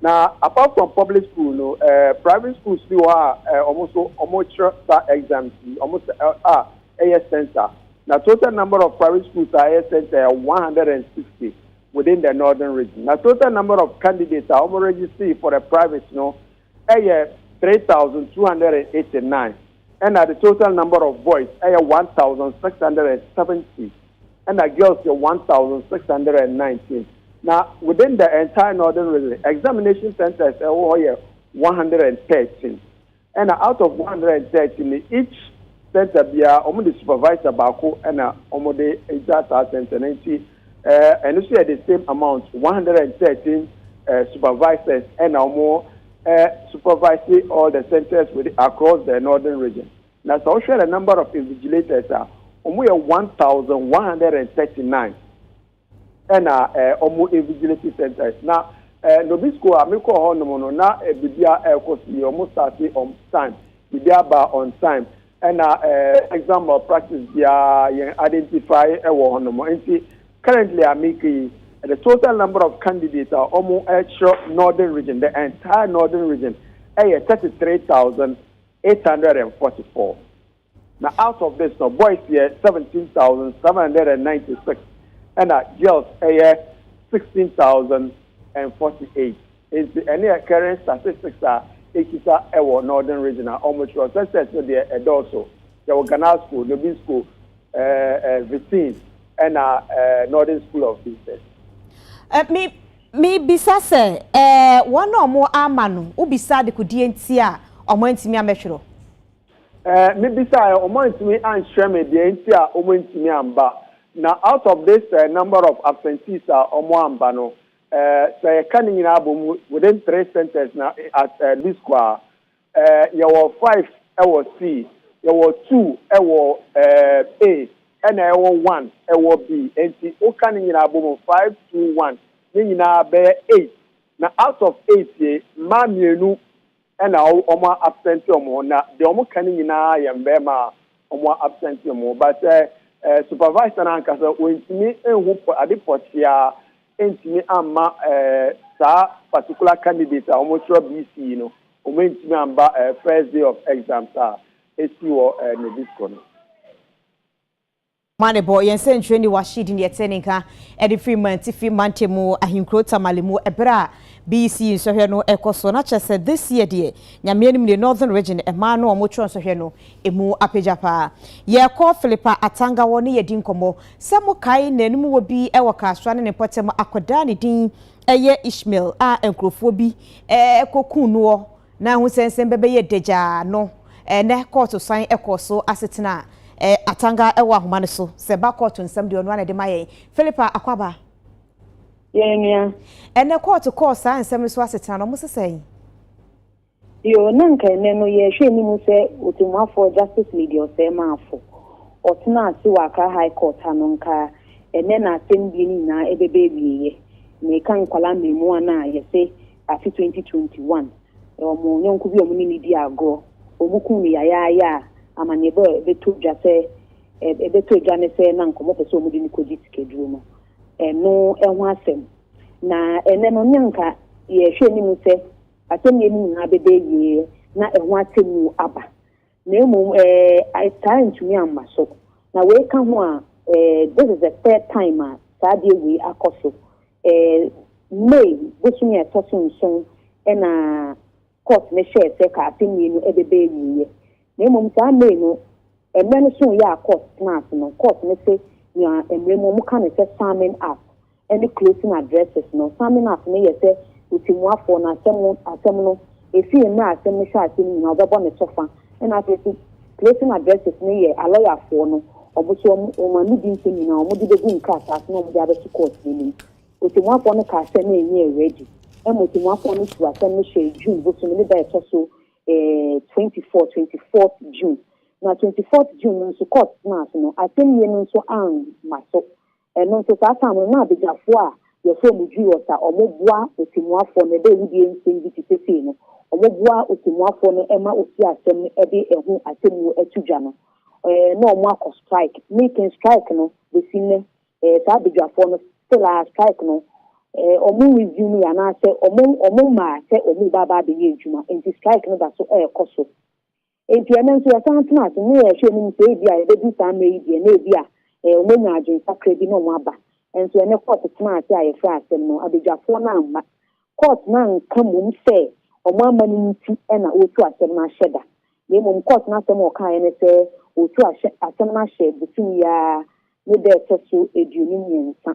Speaker 16: Na apart from public school no, eh, private schools bi wɔ hɔ a eh, wɔn nso wɔkyerɛ sa exams yi, wɔn sɛ eh, a ɛyɛ center. Na total number of private schools a ɛyɛ center yɛ 160 within the northern region. Na total number of candidates a wɔn register for the private no ɛyɛ 3,289. ɛna the total number of boys ɛyɛ one thousand six hundred and seventy ɛna girls yɛ one thousand six hundred and nineteen na within the entire northern region examination centers ɛwɔ hɔ yɛ one hundred and thirteen ɛna out of one hundred and thirteen ni each center biara wɔn de supervisor baako ɛna wɔn de gya saa center na nti ɛɛ ɛno nso yɛ the same amount one hundred and thirteen supervisors ɛna wɔn. eh, supervise all the centres with across the northern region. Na sɛ wohwɛ the number of invigilators a, wɔn yɛ one thousand one hundred and thirty nine ɛna eh, wɔn invigilating centres. Na eh, Nobi school a mekɔɔ hɔ nom no, na eh, biribiara ɛrekɔ so yie, wɔn starte on time, biribiara baa on time. Ɛna exam malpractice biara yɛn identify wɔ hɔ nom. Nti currently a meka yi, the total number of candidates a wɔn ɛkyerɛ northern region, the entire northern region ɛyɛ thirty three thousand eight hundred and forty four. Na out of this no boys yɛ seventeen thousand seven hundred and ninety six ɛna girls ɛyɛ sixteen thousand and forty eight. Enti ɛneɛ current statistics a ɛkita ɛwɔ Northern Region a ɔmo kyerɛ ɔ census no deɛ ɛdɔɔso. Yɛwɔ Ganasco, Nobisco, ɛɛ Vitin ɛna ɛɛ Northern School of Business. Ɛ
Speaker 1: me me bisa sɛ ɛɛ wɔn a ɔmo ama no wo bisa adekodeɛ nti a ɔmo antumi amɛtwerɛ? Ɛɛ
Speaker 16: me bisaɛ ɔmo antumi ankyerɛ me deɛ nti a ɔmo antumi amba. Na out of this ɛɛ number of absentees a ɔmo amba no Eh, sɛ yɛka ne nyinaa bom within three sentence na at eh, least kɔ a, eh, yɛwɔ five ɛwɔ C, yɛwɔ two ɛwɔ eh, A, ɛna ɛwɔ one ɛwɔ B. Enti woka ne nyinaa bom five, two, one ne nyinaa bɛyɛ eight. Na out of eight yi, mmaa mmienu Ɛna wɔn a absent wɔn ho na deɛ wɔn ka no nyinaa yɛ mmarima a wɔn a absent wɔn ho but sɛ ɛɛ supervisor no ankasa ɔntumi nhu pɔ ade pɔkyea ntumi amma ɛɛ saa particular candidate a wɔn srɔ BC no wɔn antumi amba ɛɛ first day of exams a ɛsi wɔ ɛɛ Nabisco no. Mane
Speaker 1: bɔ yɛn sɛnkyerɛnne wɔ Ahyidi ne yɛtee ne nka de firi Mantifi mantam wɔ ahenkuro Tamale mu ɛberɛ a BEC nsɔhwɛ no rekɔ so na kyerɛ sɛ this year deɛ Nyame anim nie Northern Region mmaa no a wɔn twerɛ nsɔhwɛ no ɛmu apagya paa. Yɛrekɔ Philippa Atanga hɔ ne yɛadi nkɔmmɔ sɛ mo kae nanum wɔ bi wɔ Kaasra ne ne mpɔtam akwadaa ne din yɛ Ishmael a nkorɔfoɔ bi kɔkuu noɔ Na ahusɛnsɛm bɛbɛyɛ dagyaa no, ɛnnɛ kɔɔto san kɔɔ so ase tena Atanga wɔ ahoma no so. Sɛ ɛba kɔɔto nsɛm deɛ, ɔno ara na ɛde ma yɛn. Philippa Akwaba. Yɛn
Speaker 17: nua. Ɛnnɛ
Speaker 1: kɔɔto kɔɔ saa nsɛm no so ase tena no, wɔse sɛn?
Speaker 17: Yoo, na anka ɛnnɛ no yɛrehwɛ anim sɛ Otemmuafoɔ Justice Lady Ɔsɛemafo. Ɔtenaa ase wɔ Accra High Court ha no nkaa, ɛnnɛ na asɛmdie no nyinaa ɛbɛba awieɛ. Mereka nkwadaa mmarimaa no a yɛse afe twenty twenty one wɔ wɔn yɔnko bi a wɔn ne no di agorɔ. Wɔn kum no yayaaya a amanneɛbɔ a ɛbɛtɔ dwa sɛ ɛbɛtɔ dwa ne sɛ na nkɔmɔ pɛ sɛ wɔn de no kɔgye sikaduro no ɛno ɛho asɛm. Na ɛnɛ no ne nka yɛhwɛ anim sɛ asɛm yɛ no nyinaa bɛbɛ yie na ɛho asɛm mu aba. Na mmom ɛɛ, saa ntumi amma so. Na wei ka ho a, ɛɛ, this is the third time a saa adeɛ wei akɔ so. Ɛɛ, May bosome a ɛtɔ so nson ɛna court no hyɛɛ sɛ ka asɛmnie no ɛbɛbɛ awieɛ. Na mmom saa May no, mmerɛ no so yɛ a court tena ase no, court no se nea mmerɛ mu wɔka no sɛ summing up. ne closing addresses no. Summing up no yɛ sɛ otimuafoɔ no asɛm asɛm no, ɛfiri mmerɛ asɛm no hyɛ aseɛ no nyinaa ɔbɛbɔ ne kyɛfa. Ɛna afei nso closing addresses no yɛ alɔyafoɔ no, wɔn nso wɔn wɔn ano di nsɛm nyinaa wɔde bɛgu nkrataa so na wɔde abɛto court no anim. Otimuafoɔ no kaa sɛ na ɛnyɛ ready. Ɛma otimuafoɔ no tuu asɛm no hyɛɛ June bosome ne da a ɛtɔ so eh, 24, 24th June. Na 24th June no nso court tenaa so no, asɛm yie no nso amma so. Ɛno nso saa tam no na abagyafoɔ a yɛfrɛ wɔn Giros a wɔboa ɔtɛmmuafoɔ no, ɛda awudie nsɛm bi te sɛ sei no, wɔboa ɔtɛmmuafoɔ no ma ɔsi asɛm no de ɛho atemmuo to dwa no, ɛɛ na wɔn akɔ strike. Me kan strike no bɛsi nnɛ, ɛɛ saa abagyafoɔ no still ara strike no ɛɛ wɔn resume yɛ anaasɛ wɔn wɔn mmaa sɛ wɔn ba ba abɛyɛ adwuma nti strike no da so ɛrekɔ so. Enti ɛnnɛ nso yɛsan tena ase na yɛhwɛ anim sɛ ebia yɛbɛdu saa mmerɛ yi deɛ na ebia eh, wɔanya adwene kakra bi na wɔn aba. Ɛnso ɛnnɛ kɔɔto tena ase a yɛfrɛ asɛm no, abadwafoɔ no amma. Kɔɔto no anka mmom sɛ wɔn amma no nti na wɔretu asɛm no ahyɛ da. Na mmom kɔɔto no asɛm a wɔkaeɛ ne sɛ wɔretu ahyɛ asɛm no ahyɛ bosome yi ara ne da ɛtɔ so aduonu mmiɛnsa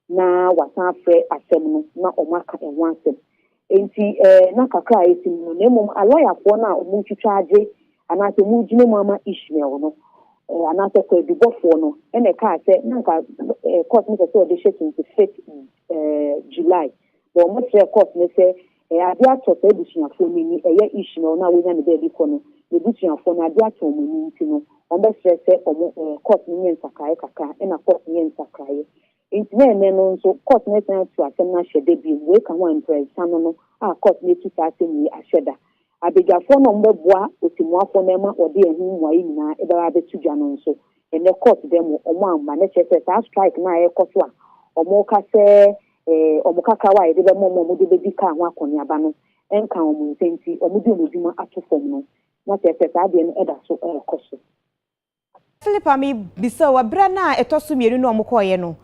Speaker 17: na wɔasan afrɛ asɛm no na wɔaka ɛho asɛm. Enti eh, na kakra a asi mu no, na mmom alɔyafoɔ no a wɔretwitwa agye anaasɛ wɔregyina mu ama Ishmael no, eh, anaasɛ kwaadubɔfoɔ no, na ɛkaa sɛ na nka eh, court no pɛ sɛ wɔde hyɛ 25th eh, July, na wɔkyerɛɛ court no sɛ Ɛyɛ ade atɔ saa abusuafoɔ no ani, ɛyɛ Ishmael no a wanya ne baabi kɔ no n'abusuafoɔ no ade atɔ wɔn ani nti no, wɔbɛsrɛ sɛ wɔn ɛɛ court no nyɛ nsakraeɛ kakra, ɛna court no yɛ nsakraeɛ. Nti na ɛnnɛ no nso court no asan atu asɛm no ahyɛ da biom, wei ka ho a mprɛnsa no no a court no atu saa asɛm wei ahyɛ da. Abadwafoɔ no a wɔbɛboa Ɔtɛmmuafoɔ no ɛma ɔde ɛho mmuaeɛ nyinaa ɛbɛba abɛto dwa no nso, ɛnnɛ court da mu wɔamma, na kyerɛ sɛ saa strike no a ɛrekɔ so a wɔreka sɛ Ee, wɔn kakrawa a yɛde bɛma wɔn a wɔde bedi kar ho akɔneaba no nka wɔn nsɛ nti wɔde wɔn adwuma ato fam no, na kyerɛ sɛ saa adeɛ no da so rekɔ so.
Speaker 1: Philip a mebisa wo, ɛberɛ no a ɛtɔ so mmienu no a wɔkɔeɛ no,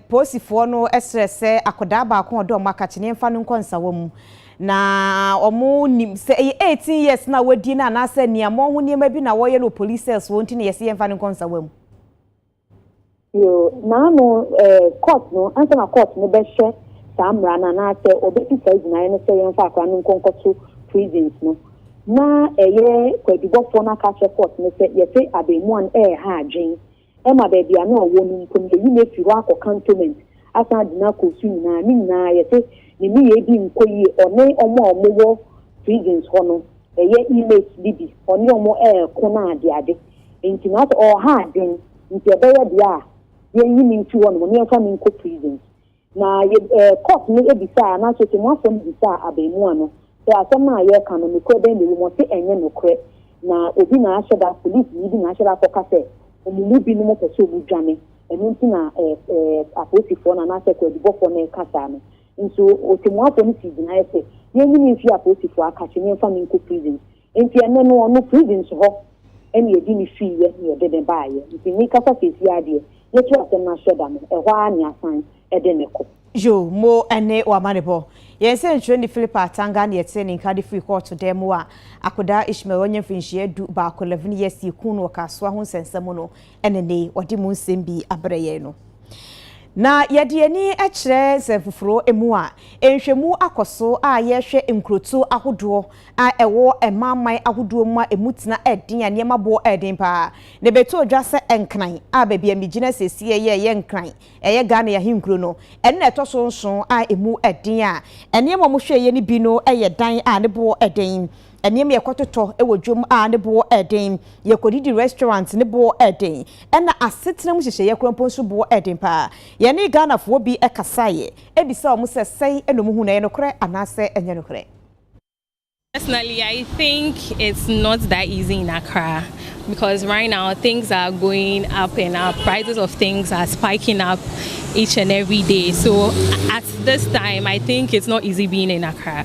Speaker 1: polisifoɔ no srɛɛ sɛ akwadaa baako a wɔde wɔn aka kyeneɛ mfa no nkɔ nsawa mu. Na wɔnim sɛ ɛyɛ 18 years no a wadi no anaasɛ aniammɔn ho nneɛma bi na wɔyɛ no wɔ police cells hɔ nti na yɛse yɛmfa no nkɔ nsawa mu.
Speaker 17: Yoo, naano eh, court no, ansa na court no bɛhyɛ saa mmara no anaasɛ ɔbɛsi saa gyinaeɛ no sɛ yɛmfa akora no nkɔ nkɔto prisons no, na ɛyɛ kwadubɔfoɔ no aka akyerɛ court no sɛ yɛse abɛɛmua no ɛɛha adwen, ɛma baabi a na ɔwɔ no mpo no yɛyi no afiri hɔ akɔ cantonment asan de no akɔ su nyinaa, ne nyinaa yɛse ne nneyɛɛ bi nkɔ yie, ɔne ɔmo a ɔmo wɔ prisons hɔ no, ɛyɛ inmates bi bi, ɔne ɔmo ɛɛko no adeade. Enti naaso ɔha adwen, ntsi ɔbɛyɛ dea a yɛnyi no mfi hɔnom na yɛmfa no nkɔ prison. Na yɛ eh, court no bisaa anaaso Otemmuafoɔ no bisaa abaamua no sɛ asɛm no a yɛreka no nokorɛ bɛn na ɛwɔ mu, ɔse ɛnyɛ nokorɛ, na obi na ahyɛ da, polisini bi na ahyɛ da akɔka sɛ wɔn mu binom pɛ sɛ wɔn dwane, ɛno nti na eh, eh, apolisifoɔ no anaasɛ kwaadubɔfoɔ no reka saa no. Nso Otemmuafoɔ no sii gyinaeɛ sɛ yɛnyi no mfi apolisifoɔ akakye na yɛmfa no nkɔ prison. Enti ɛno no ɔno prisons hɔ na yɛde no fiiɛ na yɛde no baeɛ. Nti mekasa seesei ara deɛ, ne to asɛm no ahyɛ da no, ɛhɔ ara na yɛasan de no kɔ. Yoo, mo
Speaker 1: ɛne w'amanebɔ. Yɛn sɛnkyerɛni Philip Atanga na yɛtee ne nka de firii kɔɔto dan mu a akwadaa Ishmael a wanya mfirinhyia du baako, 11 years, yɛkuu no wɔ Kasoa ho nsɛnsɛm mu no. ɛne ne wɔde mu nsɛm bi abrɛ yɛn no. Na yɛde yɛn ani kyerɛ nsɛmfoforo mu a, nhwɛmu akɔ so a yɛhwɛ nkurotoɔ ahodoɔ a ɛwɔ ɛmanman ahodoɔ mu a ɛmu tena ɛden a nneɛma boɔ ɛden paa. Na ɛbɛtɔ dwa sɛ Nkran a baabi a megyina seesei yi a ɛyɛ Nkran, ɛyɛ Ghana yi ahenkuro no, ɛno na ɛtɔ so nson a ɛmu ɛden a nneɛma a wɔhwɛeɛ no bi no yɛ dan a ne boɔ ɛden. Nneɛma a yɛkɔtotɔ wɔ dwam a ne boɔ yɛ den, yɛkɔdidi restaurant ne boɔ yɛ den, ɛna asetena mu nhyehyɛeɛ korɔ mpo nso boɔ yɛ den pa ara. Yɛne Ghanafoɔ bi kasaeɛ bisaa wɔn sɛ sɛn na wɔhu no, ɛyɛ nokorɛ anaasɛ ɛnyɛ nokorɛ.
Speaker 18: Personally I think it's not that easy in Accra because right now things are going up and up, prices of things are spiking up each and every day so at this time I think it's not easy being in Accra.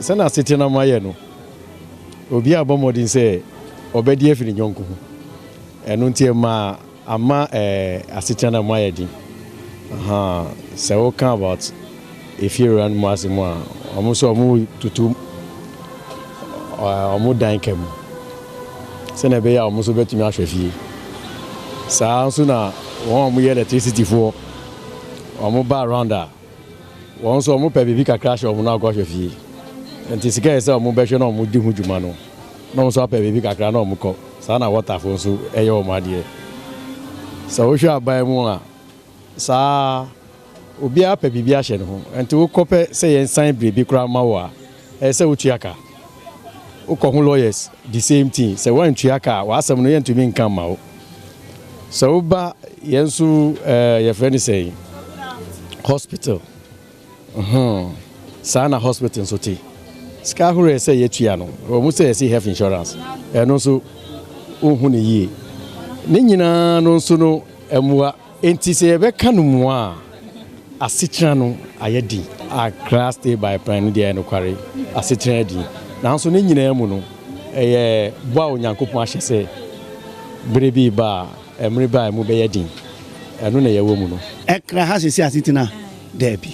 Speaker 19: Sɛnea asetenam ayɛ no, obiara rebɔ mmɔden sɛ ɔbɛde afi ne yɔnko ho. Ɛno nti, ɛma ama ɛɛ asetenam ayɛ den. Aha, sɛ woka about efiewura no mu asɛm a, wɔn nso wɔtoto wɔn dan ka mu sɛnea ɛbɛyɛ a wɔn nso bɛtumi ahwɛ fie. Saa nso na wɔn a wɔyɛ electricityfoɔ, wɔba around a, Wɔn nso wɔpɛ biribi kakra hyɛ wɔn na wɔkɔ ahwɛ fie. Nti sika a ɛsɛ sɛ wɔbɛhwɛ na wɔdi ho dwuma no, na wɔn nso apɛ biribi kakra na wɔkɔ. Saa na Wɔtafo nso yɛ wɔn adeɛ. Sɛ wohwɛ aban mu a, saa ara. Obiara pɛ biribi ahyɛ ne ho. Nti wokɔpɛ sɛ yɛsan biribi koraa mma wo a, Ɛyɛ sɛ wotua ka. Wokɔ ho lawyers the same thing. Sɛ woantua ka a w'asɛm no yɛntumi nka mma wo. Sɛ woba yɛn nso ɛɛ yɛfrɛ no sɛn hospital hmm saa na hospital nso te. Sika ahorow ɛsɛ yɛtua no wɔn sɛ yɛsi health insurance ɛno nso wonhu ne yie. Ne nyinaa no nso no mmoa. Enti sɛ yɛbɛka no mua a, asetra no ayɛ den. Accra Stay By Plan no deɛ, ɛyɛ nokware, asetra yɛ den. Nanso ne nyinaa mu no, ɛyɛ bɔ a Onyankopɔn ahyɛ sɛ bere bi reba a, ɛmmere bɛ a emu bɛyɛ den. Ɛno na yɛwɔ mu no. Accra ha seesei
Speaker 20: asetena? Dabi.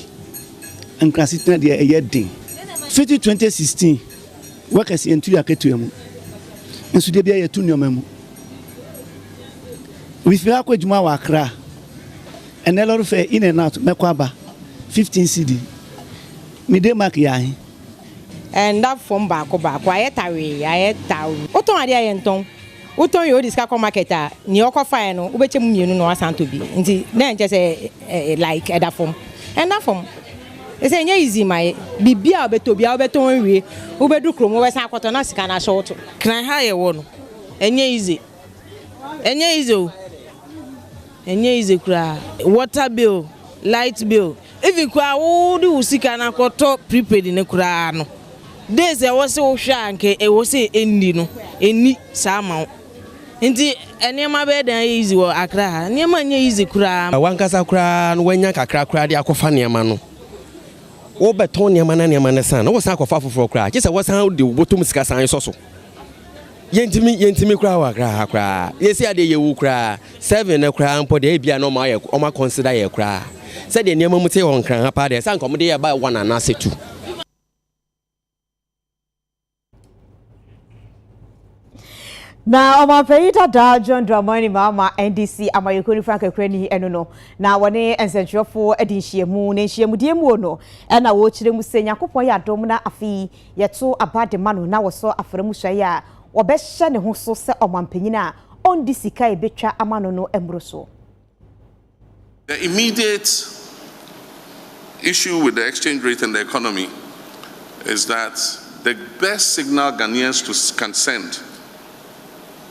Speaker 20: Accra asetena deɛ, ɛyɛ den. Fiti 2016, workers yɛntu yɛn akatua mu. Nso da biara yɛtu nneɛma mu. Mefiri ha kɔ adwuma wɔ Accra. Ɛnnɛ lɔre fare in and out, mɛkɔ aba, fifteen cedi. Me Denmark yɛ ahe? Ɛnda
Speaker 21: fam baako baako, ayɛ tawee, ayɛ tawee. Wotɔn adeɛ a, yɛntɔn. Wotɔn yei, wode sika kɔ market a, nea wokɔfaeɛ no, wobɛkyɛ mu mmienu na woasan atɔ bi. Nti na ɛnkyɛ sɛ like ɛda fam. Ɛnda fam. Ɛsɛ sɛ ɛnyɛ easy ma yɛ. Biribiara a wobɛtɔ biara, wobɛtɔn awie, wobɛduru kurom, wobɛsan akɔtɔ na sika no ahyɛ wo to. Kena ha a yɛwɔ
Speaker 22: no, Ɛnyɛ easy ɛnyɛ easy o ɛnyɛ easy koraa. Water bill, light bill even koraa wo de wo sika no akɔ tɔ prepaid no koraa no days a ɛwɔ se wo hwɛ a nka ɛwɔ se ɛnni no ɛnni saa ma wo nti nneɛma bɛyɛ dɛn ayɛ easy wɔ Accra ha nneɛma nyɛ easy koraa. Wankasa koraa
Speaker 23: no wanya kakra koraa de akɔ fa nneɛma no wo bɛ tɔn nneɛma na nneɛma no san na wo san akɔ fa foforɔ koraa gye sɛ wo san de wo bɔtɔ mu sika san sɔ so. yɛntumi yɛntumi koraa wɔ koraa ha koraa yɛsi adeɛ yɛwu koraa seven no koraa mpo deɛ ebi a na ɔmo ayɛ ɔmo akɔnsida yɛ koraa sɛdeɛ nneɛma mu te wɔ nkran ha paa deɛ sɛ anka ɔmo de yɛ ba one anaasɛ two.
Speaker 1: na ɔmanpanyin dada john dramani maama ndc amayɛkuo no frank akurani ɛno no na wɔne nsɛnkyerɛfoɔ de nhyiamu na nhyiamudeɛ mu no ɛna wɔkyerɛ mu sɛ nyankopɔn yɛ adom na afei Yɛto aba de ma no na wɔsɔ afra mu suae a wɔbɛhyɛ ne ho so sɛ ɔmampanyin a ondi sika a ebetwa ama no no mmoroso.
Speaker 24: The immediate issue with the exchange rate and the economy is that the best signal Ghanaians to can send.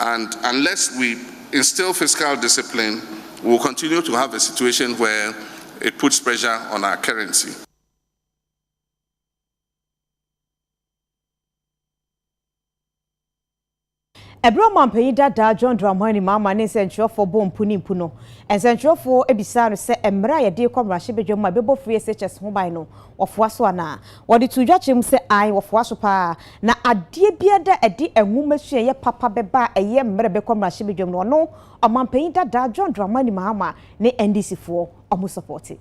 Speaker 24: and unless we instill fiscal discipline we will continue to have a situation where it puts pressure on our currency.
Speaker 1: Ɛberɛ ɔmanpanyin dadaa John Dramani Mahama ne nsɛntwerɛfoɔ bɔɔ mpu ne mpu no, nsɛntwerɛfoɔ bisaa no sɛ mmerɛ a yɛde rekɔ mmarahyɛbadwam a ɛbɛbɔ free SHS ho ban no, Wɔfoa so anaa? Wɔde too dwa kyerɛ mu sɛ, Ae, wɔfoa so paa. Na adeɛ biara da a ɛde nwomasua-yɛ papa bɛba a ɛyɛ mmerɛ bɛkɔ mmarahyɛbadwam no, ɔno, Ɔmanpanyin dadaa John Dramani Mahama ne NDCfoɔ, wɔsɔpɔɔte.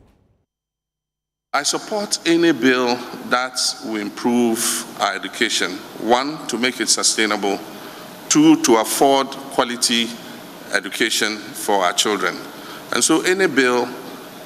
Speaker 24: I support any bill that will improve our education, one, to make it sustainable, two, to afford quality education for our children, and so any bill,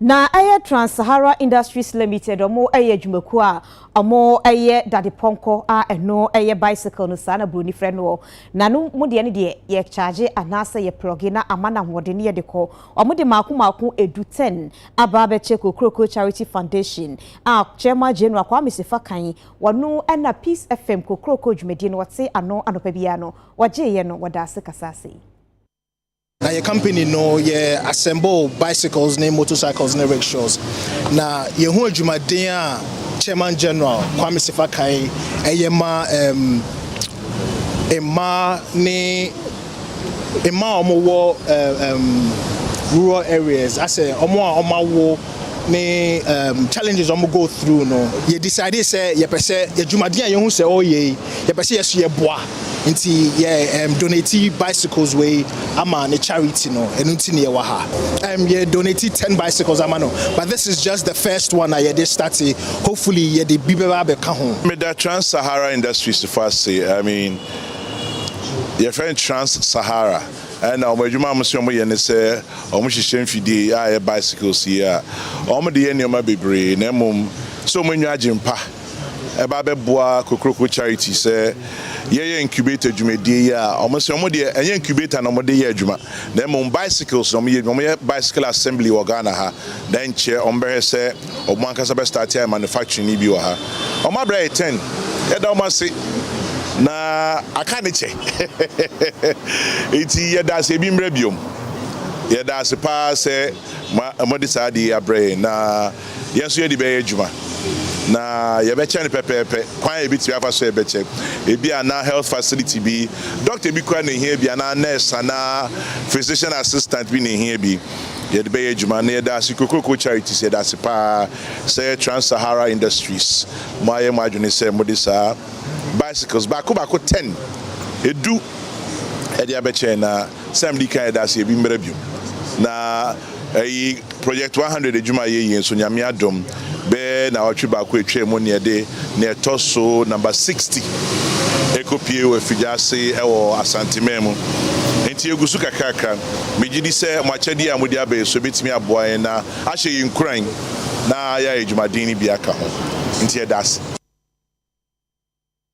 Speaker 1: Na ɛyɛ Trans Sahara Industries Limited, wɔn yɛ adwumakuo a wɔn yɛ dadepɔnkɔ a ɛno yɛ bicycle no saa na buroni frɛ noɔ. Na no mo deɛ no deɛ yɛ charge anaasɛ yɛ plɔge na ama no ahoɔden ne yɛde kɔ. Wɔn de maako maako ɛdu ten aba abɛkyɛ Kokroko Charity Foundation a Chairman General Kwame Sefa kan wɔno na Peace FM Kokroko dwumadie no wɔte ano anɔpa biara no wɔgyeeɛ no wɔda ase kasaa sei.
Speaker 2: Na yɛ kampani no yɛ assemble bicycles ne motorcycles ne rickshaws. Na yɛn ho adwumaden a Chairman General Kwame Sefa kae ɛyɛ ma um, mmaa ne mmaa a wɔwɔ um, rural areas asɛ wɔn a wɔn awo ne um, challenges wɔn go through no. Yɛ decide sɛ yɛpɛ sɛ adwumaden a yɛn ho sɛ ɔyɛ yi yɛpɛ sɛ yɛso yɛboa. Nti yɛ um, donati bicycles wei ama ne charity no, ɛno nti ne yɛwɔ ha. Um, yɛ donati ten bicycles ama no, but this is just the first one a yɛde starte, hopefully yɛde bi bɛba abɛka ho. Meda Trans Sahara
Speaker 3: Industries fo ase, I mean, yɛfrɛ no Trans Sahara, ɛna wɔn adwuma a wɔn sɛ wɔyɛ ne sɛ wɔn hyehyɛ mfidie a ɛyɛ bicycles yi a wɔn de yɛ nneɛma bebree na mmom sɛ wɔn anya agye mpa. ɛba bɛboa Kokroko Charity sɛ yɛyɛ incubator dwumadie yi a, wɔn sɛ wɔn deɛ ɛnyɛ incubator na wɔn de yɛ adwuma, na mmom bicycles na wɔn yɛ adwuma. Wɔn yɛ bicycle assembly wɔ Ghana ha, na nkyɛ wɔn bɛhwɛ sɛ wɔn ankasa bɛ start ayɛ manufacturing no bi wɔ ha. Wɔn abira yɛ ten. Yɛda wɔn ase, na aka ne kyɛ. Nti yɛda ase ebi mmra biom. Yɛda ase paa sɛ mo a, mo de saa adeɛ yi abrɛ yɛn na. yɛn nso yɛde bɛyɛ adwuma, na yɛbɛkyɛ no pɛpɛɛpɛ. Kwan a yebetumi afa so a yɛbɛkyɛ, ebia na health facility bi, dɔkta bi koraa na ehia bi, anaa nurse anaa physician assistant bi na ehia bi, yɛde bɛyɛ adwuma. Na yɛda ase, Kokroko Charities, yɛda ase paa sɛ Trans-Sahara Industries, moayɛ mo adwene sɛ mode saa bicycles baako baako, ten, edu, de abɛkyɛ yɛn, na. Sɛ mede kan yɛ dase ebi mbra bio na eyi project one hundred edwuma a yɛyie nso Nyame adom bɛyɛ nawɔtwe baako etwa mu na yɛde nea ɛtɔ so number sixty ɛkɔ pie wɔ afigya ase ɛwɔ Asante man mu nti yɛgu so kakrakra me gye di sɛ mo akyɛdeɛ a mode aba yi so ɛbɛtumi aboa yɛn na ahyɛ yɛn nkuran na yɛayɛ dwumaden no bi aka ho nti yɛda ase.